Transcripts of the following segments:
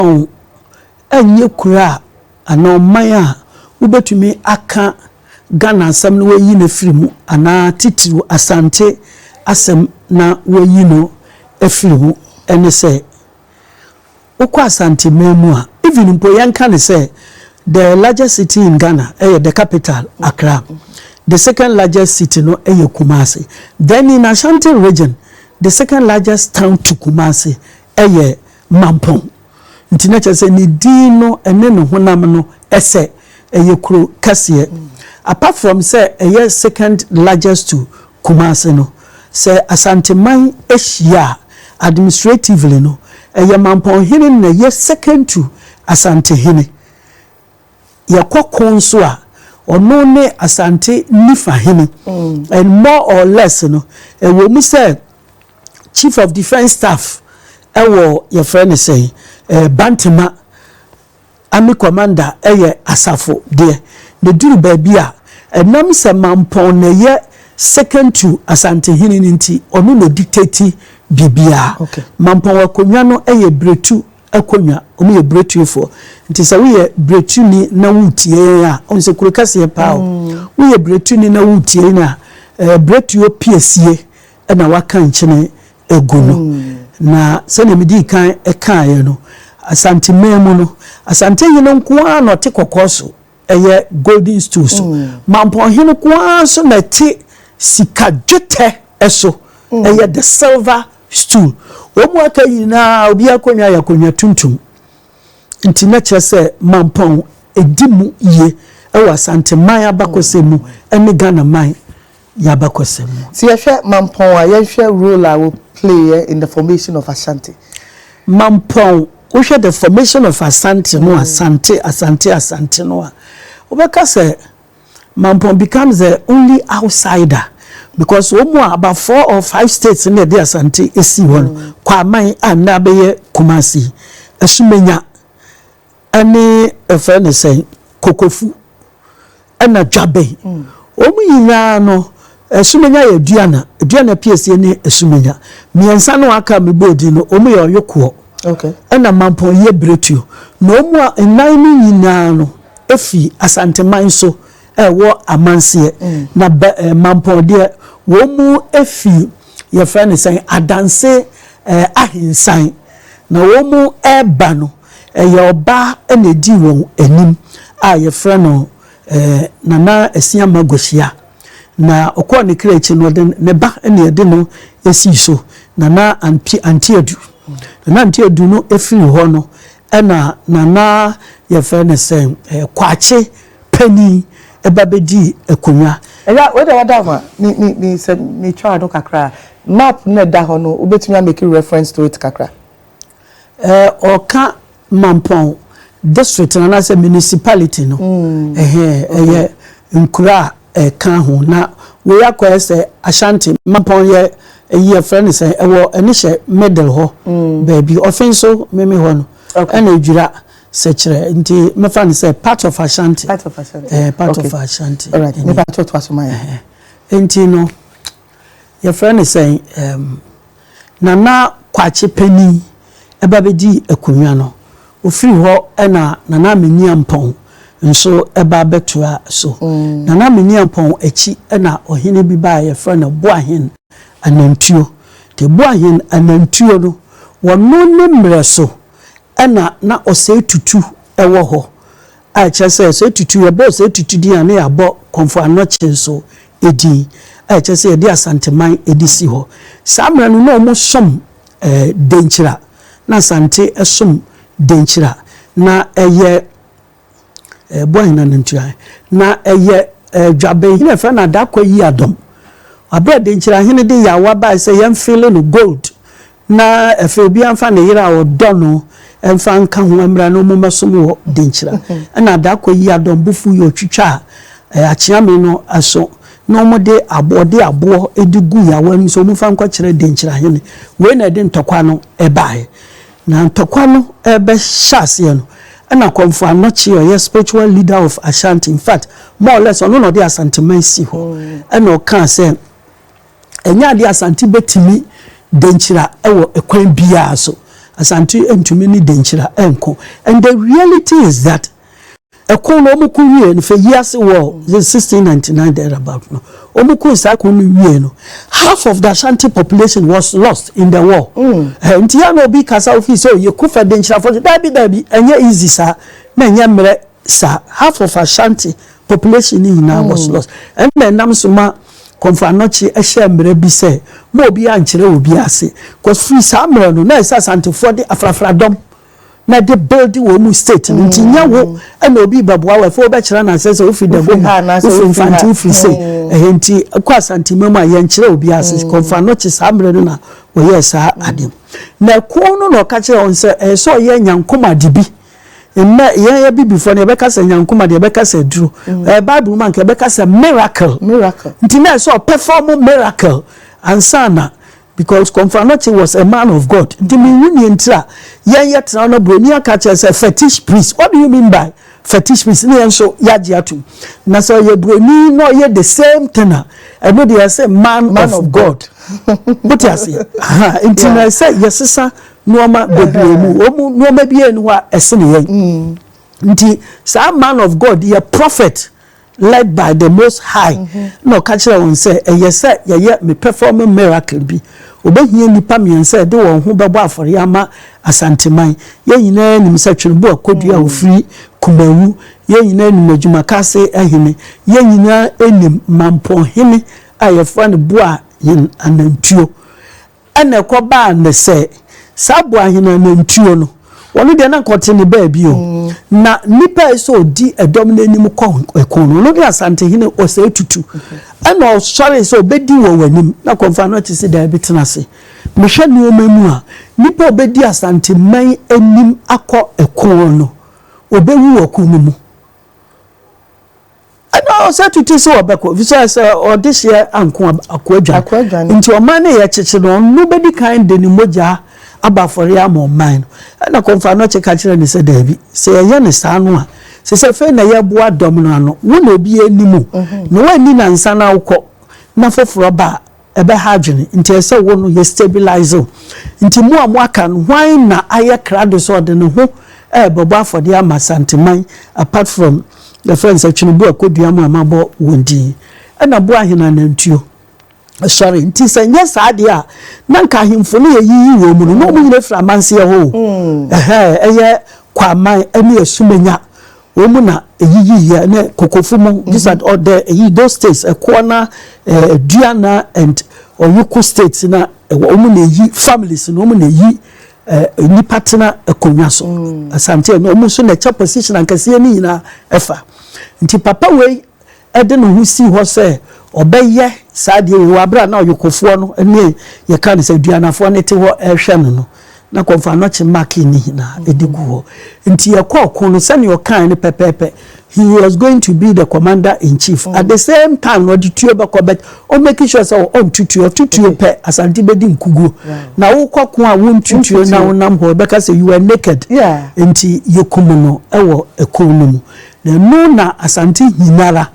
Wɔn nyɛ kuro a anaa ɔman a wobɛtumi aka Ghana asɛm na wɔayi no afiri mu anaa titiriw Asante asɛm na wɔayi no afiri mu ne sɛ, wokɔ Asanteman mu a, even mpo yɛnka no sɛ the largest city in Ghana yɛ the capital, Accra, the second largest city no yɛ Kumasi. Then in Ashanti region, the second largest town to Kumasi yɛ Mampɔn, nti na kyerɛ sɛ ne din no ne ne honam no sɛ ɛyɛ kuro kɛseɛ. Apart from sɛ ɛyɛ second largest to Kumasi no, sɛ Asanteman hyia a, administratively no, ɛyɛ Mampɔnhene na ɛyɛ second to Asantehene. yɛkɔ ko nso a, ɔno ne Asante Nifa hene and more or less no, ɛwɔ mu sɛ Chief of Defence Staff wɔ yɛfrɛ no sɛn, Bantama Army Commander yɛ Asafo deɛ, na ɛduru baabi a, ɛnam sɛ Mampɔn na ɛyɛ second to Asante hene no nti, ɔno na ɔdictate biribiara. Mampɔn akonnwa no yɛ Biretu. akonnwa. Wɔyɛ biretuefoɔ. Nti sɛ woyɛ biretuni na woretie yɛn a, wohu sɛ kuro kɛseɛ paa o, woyɛ biretuni na woretie yɛn a, biretuo piesie na wɔaka nkyene agu no. Na sɛdeɛ medii kan kaeɛ no, Asanteman mu no, Asantehene nko ara na ɔte kɔkɔɔ so ɛyɛ golden stool so. Mampɔnhene ko ara nso na ɛte sika dwetɛ so, ɛyɛ the silver stool. Wɔn mu aka nyinaa obiara akonnwa yɛ akonnwa tuntum. Nti na kyerɛ sɛ Mampɔn di mu yie wɔ Asanteman abakɔsɛm mu ne Ghanaman y'abakɔsɛm mu. Sɛ yɛhwɛ Mampɔn a, yɛnhwɛ role a wɔplayɛ in the formation of Ashanti. Mampɔn, wohwɛ the formation of Asante no a, Sante, Asante, Asante no a, wobɛka sɛ Mampɔn becomes the only outsider because wɔn a about four or five states na ɛde Asante sii hɔ no, Kwaman a nnɛ abɛyɛ Kumasi, Asumenya, ɛne yɛfrɛ no sɛn kokofu ɛna dwabe wɔn nyinaa no asumenya yɛ aduana aduana piesie ne asumenya mmiɛnsa no aka mebɔ odin no wɔn yɛ ɔyokoɔ ɛna mampɔn yɛ biretuo na wɔn a nnan no nyinaa no efi asanteman so ɛwɔ amanseɛ na bɛ ɛɛ mampɔn deɛ wɔn efi yɛfrɛ no sɛn adanse ɛɛ ahensan na wɔn ɛɛba no. Ɛyɛ ɔbaa na edii wɔn anim a wɔfrɛ no Nana Asiamah Gosia. Na ɔkɔɔ ne kra akyi no, ɔde ne ba na ɛde no sii so, Nana Anti Adu. Nana Anti Adu no firii hɔ no, ɛna Nana yɛfrɛ no sɛ Kwakye panin ba bɛdii akonnwa. Ɛyɛ wei deɛ wada ho a, me me me sɛ metwaa no kakra a, map no a ɛda hɔ no wobɛtumi a make reference to it kakra. Ɔka Mampɔn district no anaasɛ municipality no. Ɛyɛ nkuro a ɛka ho na wei akɔyɛ sɛ Ashanti. Mampɔn yɛ ɛyi yɛfrɛ no sɛ ɛwɔ ɛne hyɛ middle hɔ baabi. Ɔfe nso meme hɔ no ɛna Adwira sɛkyerɛ nti mɛfa no sɛ part of Ashanti. Part of Ashanti. Part of Ashanti. Alright, mepa kyɛw to aso ma yɛn. Nti no yɛfrɛ no sɛ. Nana Kwakye panin ba bɛdii akonnwa no. Ɔfiri hɔ na Nana Aminiampɔn nso ba bɛtoaa so. Nana Aminiampɔn akyi na ɔhene bi baeɛ a yɛfrɛ no Boahen Anantuo. Nti Boahen Anantuo no, wɔno ne mmerɛ so na na Osei Tutu wɔ hɔ. a ɛkyerɛ sɛ sɛ tutu yɛbɔɔ saa tutu din a na yɛabɔ Kɔmfo Anokye nso din a ɛkyerɛ sɛ yɛde Asanteman de si hɔ. Saa mmerɛ no na wɔsom Denkyira, na Asante som Denkyira. Na ɛyɛ Boahina no ntua he. Na ɛyɛ Dwabenhene a yɛfrɛ no Adakwa Yiadom. Aberɛ a Denkyirahene de yaawa baeɛ sɛ yɛmfeele no gold Na afei obiara mfa ne yere a ɔdɔ no mfa nka ho mmra na wɔmmɛsom wɔ Denkyira. Ɛnna Adako yii Adɔm bo fui, ɔtwitwaa Akyeame no aso, na wɔde aboɔ, ɔde aboɔ de guu Yawaa anim sɛ wɔmfa nkɔkyerɛ Denkyira hene. Wei na ɛde ntɔkwa no baeɛ. Na ntɔkwa no rebɛhyɛ aseɛ no, ɛnna Komfo Anokye a ɔyɛ spiritual leader of Ashanti, in fact, more or less ɔno na ɔde Asanteman sii hɔ, ɛnna ɔkaa sɛ, Ɛnyɛ adeɛ a Asante bɛtumi denkyira wɔ kwan biara so. Asante ntumi ne denkyira nko. And the reality is that ɛko no wɔn ko wie no fɛ yiase wɔ 1699 there about no wɔn ko saa ko no wie no half of the Ashanti population was lost in the war. Mm. Eh, nti ya na obi kasa ofi sɛ oyɛ ko fɛ denkyira fɔ daabi daabi ɛnyɛ easy saa na ɛnyɛ mmerɛ saa half of Ashanti population ni nyinaa was mm. lost ɛnna ɛnam so ma Kɔmfoanɔkye hyɛɛ mmara bi sɛ mma obiara nnkyerɛ obiara ase, cos firi saa mmerɛ no na ɛsɛ Asantefoɔ de afrafradɔm na ɛde build wɔn mu state no nti nyɛ wo na obi rebɛboa wo afei wobɛkyerɛ no asɛ sɛ wofiri Dago mu, wofiri Mfante, wofiri sei ɛhɛ nti wokɔ Asantema mu a yɛnnkyerɛ obiara ase, Kɔmfoanɔkye saa mmerɛ no na wɔyɛɛ saa adeɛ no. Na ɛko no na ɔka kyerɛɛ wɔn sɛ ɛyɛ sɛ ɔyɛ Nyankomade bi Nnɛ, yɛn Abibifoɔ no, yɛbɛka sɛ nyankomade, yɛbɛka sɛ aduro. Ɛɛ mm. Bible mu anka yɛbɛka sɛ miracle. Miracle. Nti na ɛsɛ ɔpɛfɔm miracle ansa na because Kɔmfranɔkye was a man of God. Nti mi wu nie ntira yɛn yɛ tena na buroni aka kyerɛ sɛ fetish priest. What do you mean by fetish priest? Ne yɛn nso yagye atum. Na sɛ ɔyɛ buroni na ɔyɛ the same thing a ɛno deɛ yɛ sɛ man, man of, of God. Wote aseɛ? Nti na ɛsɛ yɛsesa nnoɔma bebree mu. Wɔn mu nnoɔma biara nni hɔ a ɛsene yɛn. Nti saa man of God yi yɛ prophet led by the most high na ɔka kyerɛɛ wɔn sɛ ɛyɛ sɛ yɛyɛ me perform miracle bi. Wɔbɛhia nnipa mmiɛnsa a ɛde wɔn ho bɛbɔ afɔreɛ ama Asanteman. Yɛn nyinaa nim sɛ Tweneboa Kodu a ɔfiri Kumawu, yɛn nyinaa nim Adwumakase hene, yɛn nyinaa nim Mampɔn hene a yɛfrɛ no Boahen Anantuo. Ɛna ɛkɔbaa ne sɛ, saa boahen a nantuo no, ɔno deɛ na anka ɔte ne baabi o, na nnipa a ɛsɛ sɛ ɔdi ɛdɔm no anim kɔ ɛko no, ɔno ne Asantehene Osei Tutu. Ɛna ɔsɔree sɛ ɔbɛdi wɔ w'anim, na Kɔmfoano te se daabi, tena ase. Mehwɛ nneɛma mu a, nnipa a ɔbɛdi Asanteman anim akɔ ɛko no, ɔbɛwu wɔ ko no mu. Ɛna ɔsɛ tete sɛ ɔbɛkɔ efisɛ sɛ ɔde hyeɛ anko akoadwane nti ɔman no yɛ kyekye no ɔno bɛdi kan de ne mogya aba afɔreɛ ama ɔman no ɛna kɔmfanɔkye ka kyerɛ ne sɛ daabi sɛ yɛyɛ ne saa no a sɛ sɛ fei na yɛboa dɔm no ano wo na obi anim o mhm. na woanni nansa no awokɔ na foforɔ ba a ɛbɛha adwene nti ɛsɛ sɛ wo no yɛ stabilise wo. Nti mo a mo aka no hwan na ayɛ krado sɛ ɔde ne ho ɛɛbɛbɔ afɔdeɛ ama Asanteman apart from yɛfrɛ no sɛ Tweneboa Kodua mo a mo abɔ wɔn din ɛna boa ahene anantuo sɔre nti sɛ nyɛ saa deɛ a na nka ahemfo no yɛ yiyi wɔn mu no na wɔn nyina firi amanseɛ hɔ o ɛhɛɛ ɛyɛ Kwaman ɛne Asumenya Wɔn mu na eyiyiiɛ ne kokofo mu mm-hmm. these are ɔdɛ eyi those states ɛkoɔ na ɛdua na and ɔyoko states na ɛwɔ wɔn mu na eyi families na wɔn mu na eyi ɛɛ nipa tena akonnwa so mm. asante na wɔn nso na ɛkyɛ position ankɛseɛ ne nyinaa ɛfa nti papa wei de ne ho sii hɔ sɛ ɔbɛyɛ saa adeɛ wei wɔ berɛ a na ɔyokofoɔ no ne yɛka no sɛ aduanafoɔ no te hɔ rehwɛ no no, na kɔmfo anɔkye make no nyinaa de gu hɔ. Nti yɛkɔ ɔko no sɛdeɛ ɔkae no pɛpɛɛpɛ, he was going to be the commander in chief, at the same time na ɔde tuo bɛkɔ but ɔ make sure sɛ ɔnto tuo, ɔto tuo pɛ Asante bɛdi nkuguo. Na wokɔ ko a wonto tuo na wonam hɔ, ɛbɛka sɛ you were naked. Nti yɛkum no wɔ ɛko no mu. Na ɛno na Asante nyinara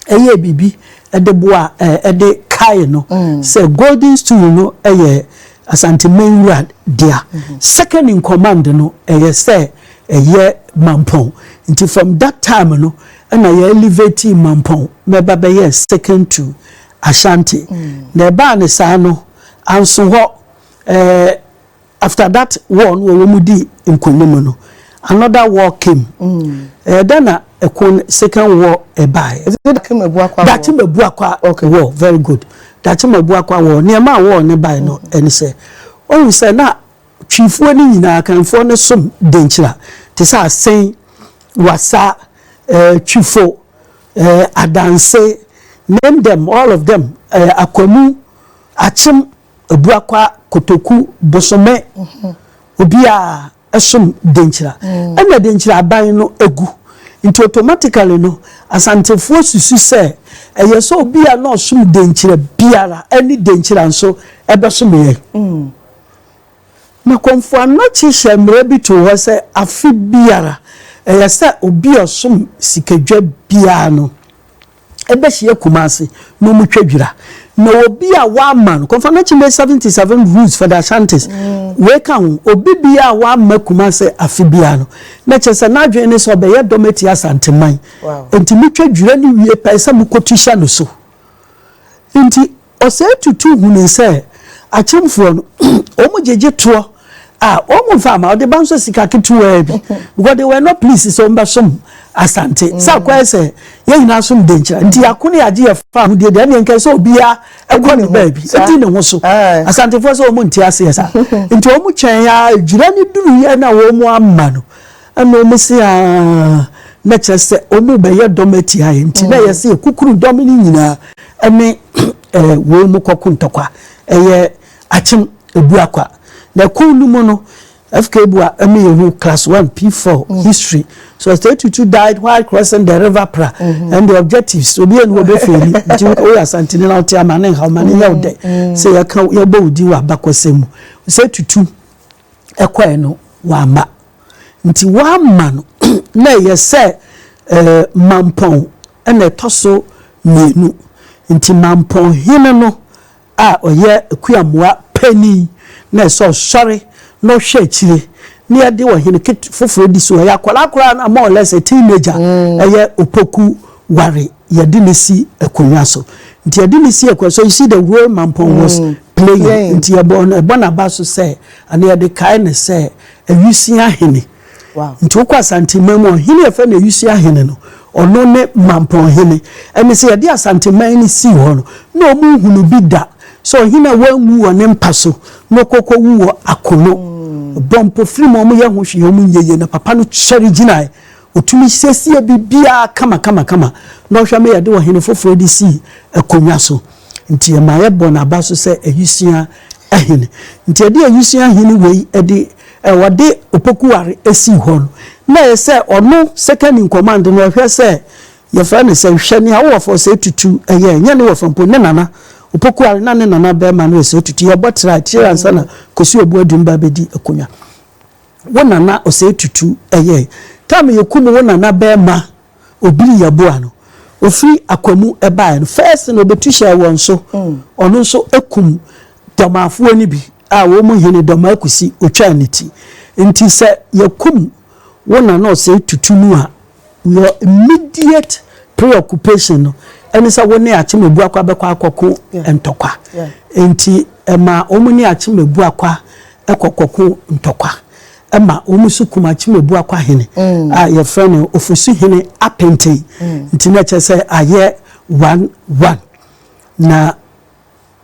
yɛɛ biribi de boaa de kaee no sɛ Golden Stool no yɛ Asanteman wura dea. Second in command no yɛ sɛ ɛyɛ Mampɔn. Nti from that time no na yɛ elevatii Mampɔn ma ɛba bɛyɛɛ second to Ashanti. Na ɛbaa no saa no, anso hɔ. After that war no wɔ wɔn dii nkonim no another war came ɛyɛ dɛn na ɛko no second war ɛbae is it Daakye Mabuakwa Daakye Mabuakwa okay. war very good Daakye Mabuakwa war nneɛma a war no bae no ɛne sɛ ɔhu sɛ na twifoɔ no nyinaa kanfoɔ no som denkyira te sɛ asɛn wasa ɛɛ twifo ɛɛ adanse name them all of them ɛɛ akwamu akyem Abuakwa Kotoku bosome obi a ɛsom Denkyira ɛna Denkyira aban no agu nti automatically no Asantefoɔ susu sɛ ɛyɛ sɛ obi a na ɔsom Denkyira biara ɛne Denkyira nso ɛbɛsom yɛn. Na Kɔmfo Anokye hyɛɛ mmara bi too hɔ sɛ afe biara ɛyɛ sɛ obi a ɔsom Sikadwa biara no, bɛhyia Kumasi na wɔtwa dwira. Na obi a wɔamma no, Kɔmfɔnakye May seventy seven Roots for the Ashantis, wei ka ho. Obi biara a wɔamma Kumasi afe biara no, na kyerɛ sɛ n'adwene ne sɛ ɔbɛyɛ dɔm atia Asanteman. Enti motwa dwira no wie pɛ, ɛsɛ sɛ mokɔtu hyɛ no so. Enti. Ɔsɛe Tutu hunuu sɛ akyemfoɔ no, wɔn gyegye toɔ a, wɔn mfa mma, wɔde ba nso sika ketewaa bi, because they were not pleased sɛ wɔn bɛsom Asante. Sɛ akɔyɛ sɛ yɛn nyinaa som Denkyira, nti yɛako ne yɛagye yɛn fa ahodie deɛ, ɛnneɛ nka sɛ obiara kɔ ne baabi, ɛdi ne ho so. Asantefoɔ sɛ wɔn nte aseɛ saa, nti wɔn twɛn ara, Dwira no duruiɛ na wɔamma no. Ɛnna wɔsee aa, na kyerɛ sɛ wɔrebɛyɛ dɔm atia yɛn, enti na ɛyɛ sɛ yɛkukuru dɔm no nyinaa ne wɔn mu kɔko ntɔkwa. Ɛyɛ akyem abura kwa. Na ɛko no mu no, FKBUA ma yɛhu Class One, P-Four, History, Sɔsitɛɛ Tutu died while crossing the River Pra and the objectives, obi anni hɔ ɔbɛfeeli, nti woyɛ Asanteni na wote a, ma no nha wo, ma no nyɛ wo dɛ sɛ yɛka wo, yɛbɔ wo din wɔ abakɔsɛm mu. Sɛ Tutu. ɛkɔɛ no wamma. Nti wamma no na ɛyɛ sɛ mampɔn na ɛtɔ so mmienu. Nti mampɔn hene no a ɔyɛ akuamoa panin na ɛsɛ sɛ ɔsɔre na ɔhwɛ akyire na yɛde ɔhene foforɔ di so. Ɛyɛ akwadaa koraa no a, more or less a teenager, ɛyɛ opoku ware. Yɛde no si akonnwa so. Nti yɛde no si akonnwa so. You see the way Mampong was playing. Nti yɛbɔ no, ɛbɔ n'aba so sɛ, anaa yɛde kae no sɛ Awusia Hene. Nti wokɔ Asanteman mu a, ɔhene a yɛfrɛ no Awusia Hene no, ɔno ne Mampong Hene. Ɛne sɛ yɛde Asanteman no sii hɔ no, na wɔnhunu bi da sɛ ɔhene a wanwu wɔ ne mpa so na ɔkɔ kɔwu wɔ akono. Wɔbɔ mpofirim, wɔyɛ ho hwee, wɔnyɛ yie, na papa no sɔre gyinae. Otumi siesie biribiara kamakamakama na ɔhwɛ ma yɛde ɔhene foforo de si akonnwa so. Nti ɛma yɛbɔ n'aba so sɛ awusua hene. Nti ɛde awusua hene wei de ɔde Opokuware sii hɔ no, na ɛyɛ sɛ ɔno second in command no ɔhwɛ sɛ yɛfrɛ no sɛ hwɛ nea wo wɔfa Osei-Tutu yɛ, ɛnyɛ ne wɔfa mpo, ne nana Opokuware na ne nana barima no Osei-Tutu yɛbɔ tra akyire ansa na Kosi Obuadum ba bɛdi akonnwa. Wo nana ɔsɛe tutu ɛyɛɛ time yɛkum wo nana bɛɛma obiri yɛboa no ofiri akwamu ɛbaɛ no first no ɔbɛtu hyɛɛ wɔn so ɔno nso ɛkum dɔmaafoɔ no bi a wɔn hene dɔmaa kusi ɔtwaa ne ti nti sɛ yɛkum wo nana ɔsɛe tutu no a Your immediate preoccupation no ne sɛ wo ne Akyem-Abuakwa bɛkɔ akɔko ntɔkwa. Enti ɛma wɔn ne Akyem-Abuakwa kɔ kɔko ntɔkwa ma wɔn nso kum Akyem-Abuakwa hene a yɛfrɛ no Ofosu-hene Apenten. Nti na ɛkyerɛ sɛ ayɛ one one. Na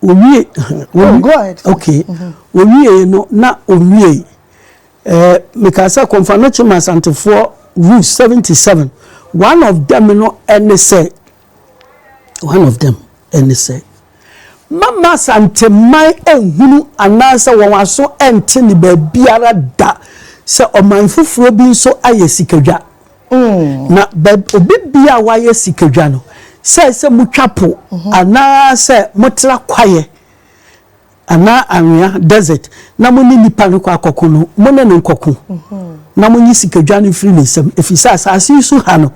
Owie yɛ no na owie ɛɛ meka sɛ kɔnfanɔkye ma asantefoɔ rule seventy seven one of them no ɛne sɛ one of them ɛne sɛ mama asanteman ɛnhunu anaasɛ wɔn aso ɛnte ne baabiara da sɛ ɔman foforɔ bi nso ayɛ sikadwa. Na baabi obi bia a wayɛ sikadwa no, sɛ ɛsɛ sɛ motwa po anaasɛ motra kwaeɛ anaa anwea, desert, na mo ne nnipa no kɔ akɔko no, mo ne no nkɔko na monyi sikadwa no mfiri ne nsam, ɛfiri sɛ asase yi so ha no,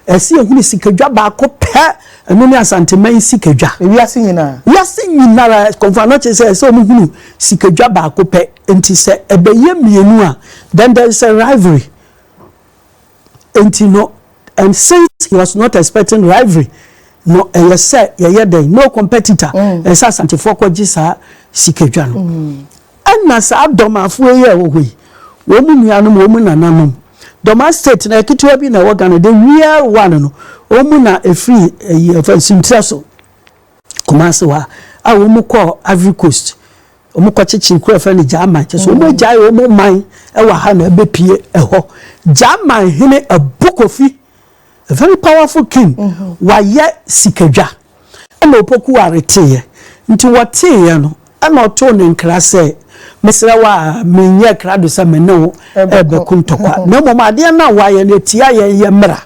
ɛsɛ yɛhunu sikadwa baako pɛ, ɛno ne Asanteman sikadwa. Wiase nyinaa? Wiase nyinara, kɔmfo ano kyerɛ sɛ ɛsɛ sɛ wɔhunu sikadwa baako pɛ, nti sɛ ɛbɛyɛ mmienu a, then there is a rivalry. Enti no, and since he was not expecting rivalry, no ɛyɛ sɛ yɛyɛ dɛn? No competitor. Mm. Ɛyɛ sɛ Asantefoɔ kɔgye saa sikadwa no. Mm. Ɛna saa dɔmafoɔ yi a ɛwɔ hɔ yi, wɔn mu nuanom, wɔn mu nananom, dɔma state na ketewa bi na ɛwɔ Ghana, the real one no, wɔn mu na ɛfiri ɛyi ɛfɛ nsintirɛ so, Kumasi hɔ a, a wɔn mu kɔɔ Ivory Coast, Wɔn kɔ kyekyere kuro a yɛfrɛ no Gyaman kyɛ sɛ wɔn agyae wɔn man wɔ ha na ɛbɛ pie ɛhɔ. Gyaman hene Abu Kofi, a very powerful king, wayɛ sikadwa ɛna Opoku Ware teeɛ. Nti wɔteeɛ no ɛna ɔtoo no nkra sɛ, Mesrɛ wo a menyɛɛ krado sɛ me ne wo ɛbɛko ntɔkwa, na mmom adeɛ no a wayɛ no ɛtia yɛn yɛ mmra.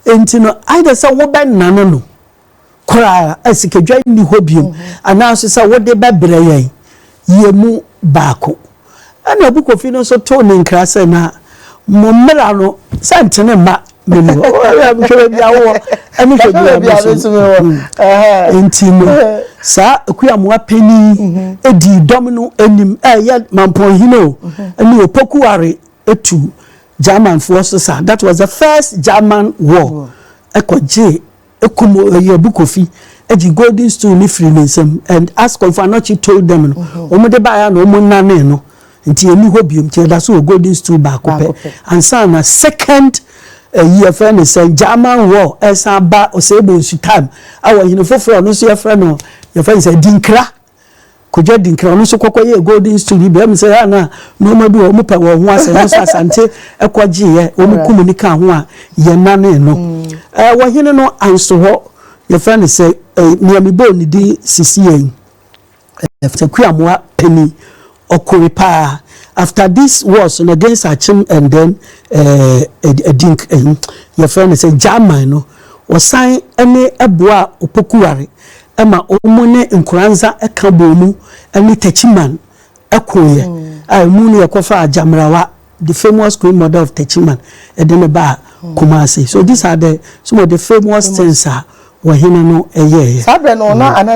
Nti no either sɛ wobɛnane no, koraa a sikadwa nni hɔ bio, anaa nso sɛ wode bɛbrɛ yɛn, yɛn mu baako. Ɛnna Abukofi no nso too ne nkra sɛ, Na mo mmara no, sɛ ntene mma me ni hɔ. Hwɛ baabi a wowɔ ne hwɛ baabi a me nso mewɔ. Enti no, saa Akuamoa panin dii dɔm no anim, ɛyɛ Mampɔnhene o, ne Opoku Ware tu Germanfoɔ so saa. That was the first German war. Ɛkɔgyee kum Oyebu Kofi gye golden stool no firi ne nsam and as Komfo Anokye told them no wɔn de baeɛ a na wɔn nanee no nti ɛni hɔ biom nti ɛda so wɔ golden stool baako pɛ ansa na second ɛyi eh, ɛfrɛ ne sɛ German war ɛsan ba Osebo Nsutam ɛwɔ hene foforɔ ɔno nso yɛfrɛ no yɛfrɛ ne sɛ Dinkra Kojo Adinkra, ɔno nso kɔkɔyɛɛ Golden Stool bi, ɛm sɛ na nnoɔma bi wɔ wɔn pɛ wɔn ho asɛ, ɛno nso Asante kɔgyeeɛ, wɔn kum ne kaa ho a yɛnane no. Ɛɛ wɔhene no ansohɔ, yɛfrɛ no sɛ ɛɛ nea mebɔɔ ne din sisi yɛn, ɛɛ Takuamoa panin, Ɔkoe paa after this wars no against Akyem and then eh, Adink, eh, eh, yɛfrɛ no sɛ Gyaman no, wɔsan ne ɛboa Opokuware ɛma wɔn ne Nkoranza ɛka bɔɔ mu ɛne Techiman ɛkoeɛ mm. a ɛmu no yɛkɔfa Agyamrawa the famous queen mother of Techiman ɛde ne baa mm. Kumasi so these are the some of the famous things a wɔhene no ɛyɛɛyɛ. saa bɛn no ɔno mm. ana